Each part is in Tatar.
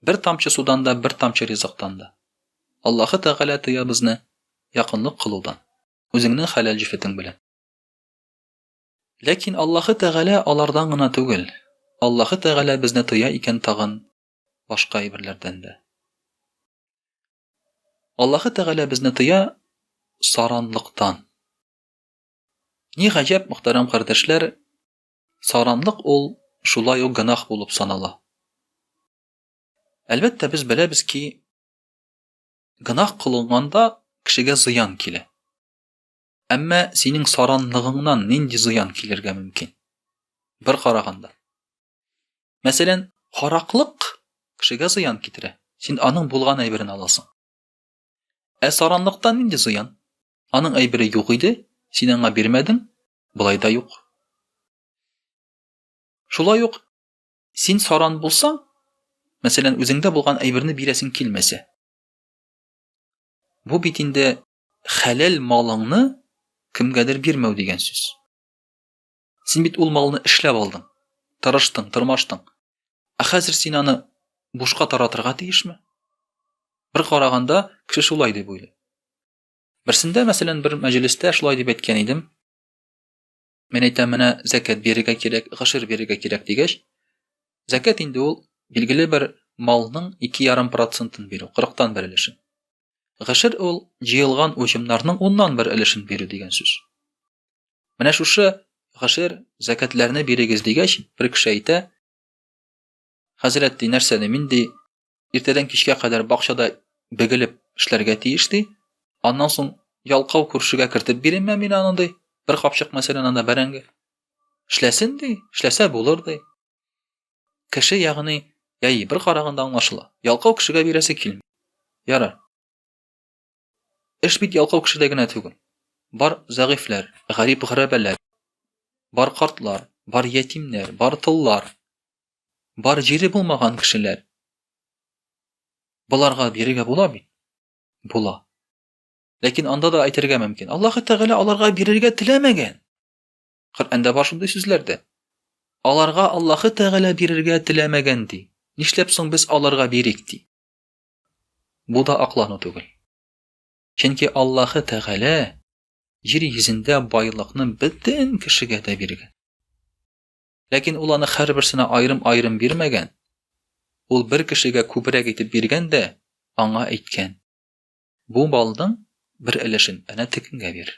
Бер тамчы судан да, бер тамчы ризыктан да. Аллаһы Тәгалә тыя безне якынлык кылудан, үзеңнең хәләл җефетең белән. Ләкин Аллаһы Тәгалә алардан гына түгел, Аллаһы Тәгалә безне тыя икән тагын башка әйберләрдән дә. Аллаһы Тәгалә безне тыя саранлыктан. Ни гаҗәп, мөхтәрәм кардәшләр, Саранлык ул шулай ук гөнаһ булып санала. Әлбәттә, без беләбез ки, гөнаһ кылынганда кешегә зыян килә. Әмма синең саранлыгыңнан нинди зыян килергә мөмкин? Бер караганда. Мәсәлән, хараклык кешегә зыян китерә. Син аның булган әйберен аласың. Ә саранлыктан нинди зыян? Аның әйбере юк иде, син аңа бирмәдең, Болай да юк. Шулай ук син саран булсаң, мәсәлән, үзеңдә булган әйберне бирәсең килмәсә. Бу бит инде хәләл малыңны кемгәдер бирмәү дигән сүз. Син бит ул малны эшләп алдың, тырыштың, тырмаштың. Ә хәзер син аны бушка таратырга тиешме? Бер караганда, кеше шулай дип уйлый. Берсендә, мәсәлән, бер мәҗлестә шулай дип әйткән идем. Мен әйтәм, менә зәкәт бирергә кирәк, гашир бирергә кирәк дигәч, зәкәт инде ул билгеле бер малның 2,5 процентын бирү, 40-тан бер өлешен. Гашир ул җыелган уҗымнарның 10-нан бер өлешен бирү дигән сүз. Менә шушы гашир зәкәтләрне бирегез дигәч, бер кеше әйтә, Хәзрәт ди, нәрсә ди, мин ди, иртәдән кичкә кадәр бакчада бегелеп эшләргә тиеш ди. Аннан соң ялкау күршегә кертеп биренмә мин аны ди. Бер капчык мәсәлән анда бәрәңге. Эшләсен ди, эшләсә булыр ди. Кеше ягъни, яи бер караганда аңлашыла. Ялкау кешегә бирәсе килми. Ярар. Эш бит ялкау кешедә генә түгел. Бар зәгыйфьләр, гарип-гәрәбәләр, бар картлар, бар ятимнәр, бар тыллар, бар җире булмаган кешеләр. Боларга бирергә була бит. Була. Ләкин анда да әйтергә мөмкин. Аллаһ Тәгалә аларга бирергә теләмәгән. Коръәндә бар шундый сүзләр дә. Аларга Аллаһ Тәгалә бирергә теләмәгән ди. Нишләп соң без аларга бирик ди? Бу да аклану түгел. Чөнки Аллаһы Тәгалә җир йөзендә байлыкны бөтен кешегә дә биргән. Ләкин ул аны һәрберсенә аерым-аерым бирмәгән. Ул бер кешегә күбрәк итеп биргән дә аңа әйткән: "Бу балның бер өлешен әнә тегенгә бир".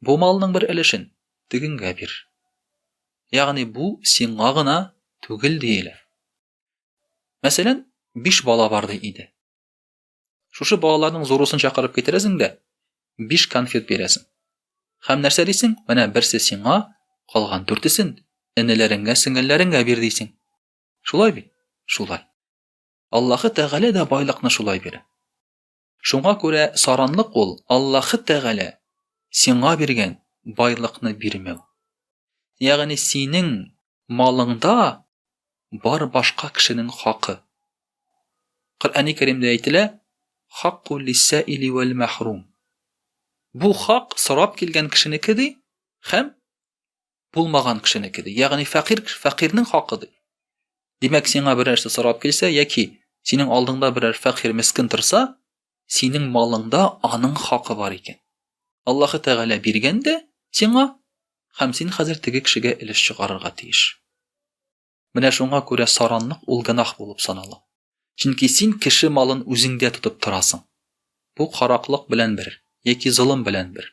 Бу малның бер өлешен тегенгә бир. Ягъни бу сиңа гына түгел диелә. Мәсәлән, биш бала бар ди иде. Шушы балаларның зурусын чакырып китерәсең дә, биш конфет бирәсең. Хәм нәрсә дисең? Менә берсе сиңа, калган дүртесен энеләреңгә, сеңелләреңгә бир дисең. Шулай бит? Шулай. Аллаһы Тәгалә дә байлыкны шулай бирә. Шуңа күрә саранлык ул Аллаһы Тәгалә сиңа биргән байлыкны бирмәү. Ягъни синең малыңда бар башка кешенең хакы. Коръәни Кәримдә әйтелә, Хакку лиссәили вәл-мәхрум. Бу хак сорап килгән кешенеке ди һәм Булмаган кешенеке ди. Ягъни фәкыйрь кеше, фәкыйрьнең хакы ди. Димәк, сиңа бер нәрсә сорап килсә яки синең алдыңда берәр фәкыйрь мескин торса, синең малыңда аның хакы бар икән. Аллаһы Тәгалә биргән дә сиңа, һәм син хәзер теге кешегә өлеш чыгарырга тиеш. Менә шуңа күрә саранлык ул гынах булып санала. Чөнки син кеше малын үзеңдә тотып торасың. Бу караклык белән бер, яки золым белән бер.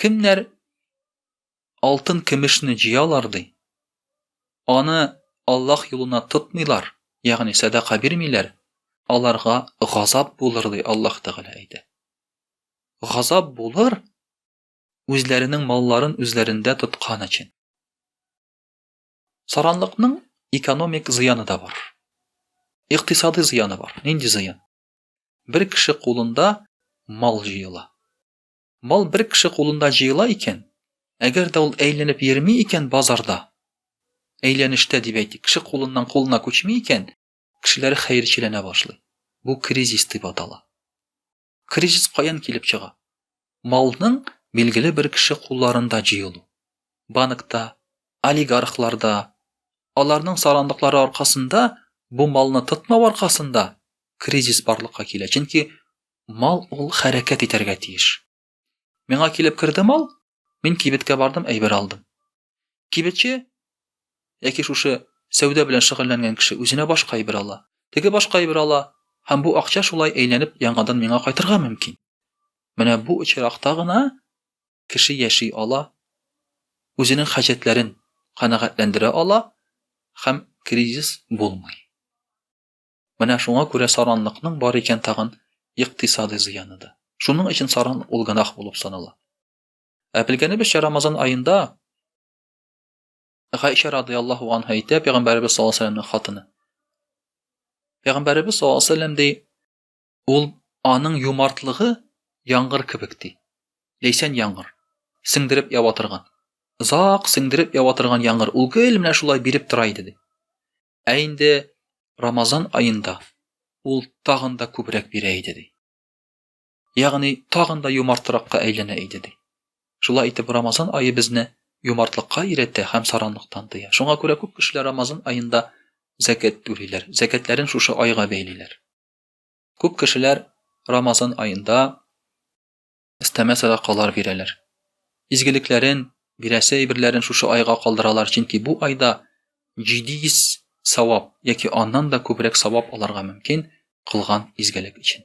Кемнәр алтын кемешне җыялар ди. Аны Аллаһ юлына тотмыйлар, ягъни сәдака бирмиләр, аларга газап булыр ди Аллаһ Тәгалә әйтә. Газап булыр үзләренең малларын үзләрендә тоткан өчен. Саранлыкның экономик зыяны да бар. Икътисади зыяны бар. Нинди зыян? Бер кеше кулында мал җыела. Мал бер кеше кулында җыела икән, әгәр дә ул әйләнеп йөрми икән базарда, әйләнештә дип әйтик, кеше кулыннан кулына күчми икән, кешеләр хәерчеләнә башлый. Бу кризис дип атала. Кризис каян килеп чыга? Малның билгеле бер кеше кулларында җыелу, банкта, олигархларда, аларның сарандыклары аркасында, бу малны тотмау аркасында кризис барлыкка килә, чөнки мал ул хәрәкәт итәргә тиеш. Миңа килеп керде мал, мин кибеткә бардым, әйбер алдым. Кибетче яки шушы сәүдә белән шөгыльләнгән кеше үзенә башка әйбер ала. Теге башка әйбер ала, һәм бу акча шулай әйләнеп яңадан миңа кайтырга мөмкин. Менә бу очракта гына кеше яши ала, үзенең хаҗәтләрен канәгатьләндерә ала һәм кризис булмый. Менә шуңа күрә саранлыкның бар икән тагын икътисадый зыяны да. Шуның өчен саран ул гынах булып санала. Ә белгәнебезчә, Рамазан аенда Гайша радыйаллаху анха әйтә, пәйгамбәребез саллаллаху алейһи вәсәлләмнең хатыны. Пәйгамбәребез саллаллаху алейһи вәсәлләм ди, ул аның юмартлыгы яңгыр кебек ди. Ләйсән яңгыр. Сеңдереп ява торган. Озак сеңдереп ява торган яңгыр. Ул гел менә шулай биреп тора иде ди. Ә инде Рамазан аенда ул тагын да күбрәк бирә иде ди. Ягъни, тагын да юмартракка әйләнә иде, ди. Шулай итеп, Рамазан ае безне юмартлыкка өйрәтә һәм саранлыктан тыя. Шуңа күрә күп кешеләр Рамазан аенда зәкят түлиләр, зәкятләрен шушы айга бәйлиләр. Күп кешеләр Рамазан аенда өстәмә садакалар бирәләр. Изгелекләрен, бирәсе әйберләрен шушы айга калдыралар, чөнки бу айда 700 савап яки аннан да күбрәк савап алырга мөмкин кылган изгелек өчен.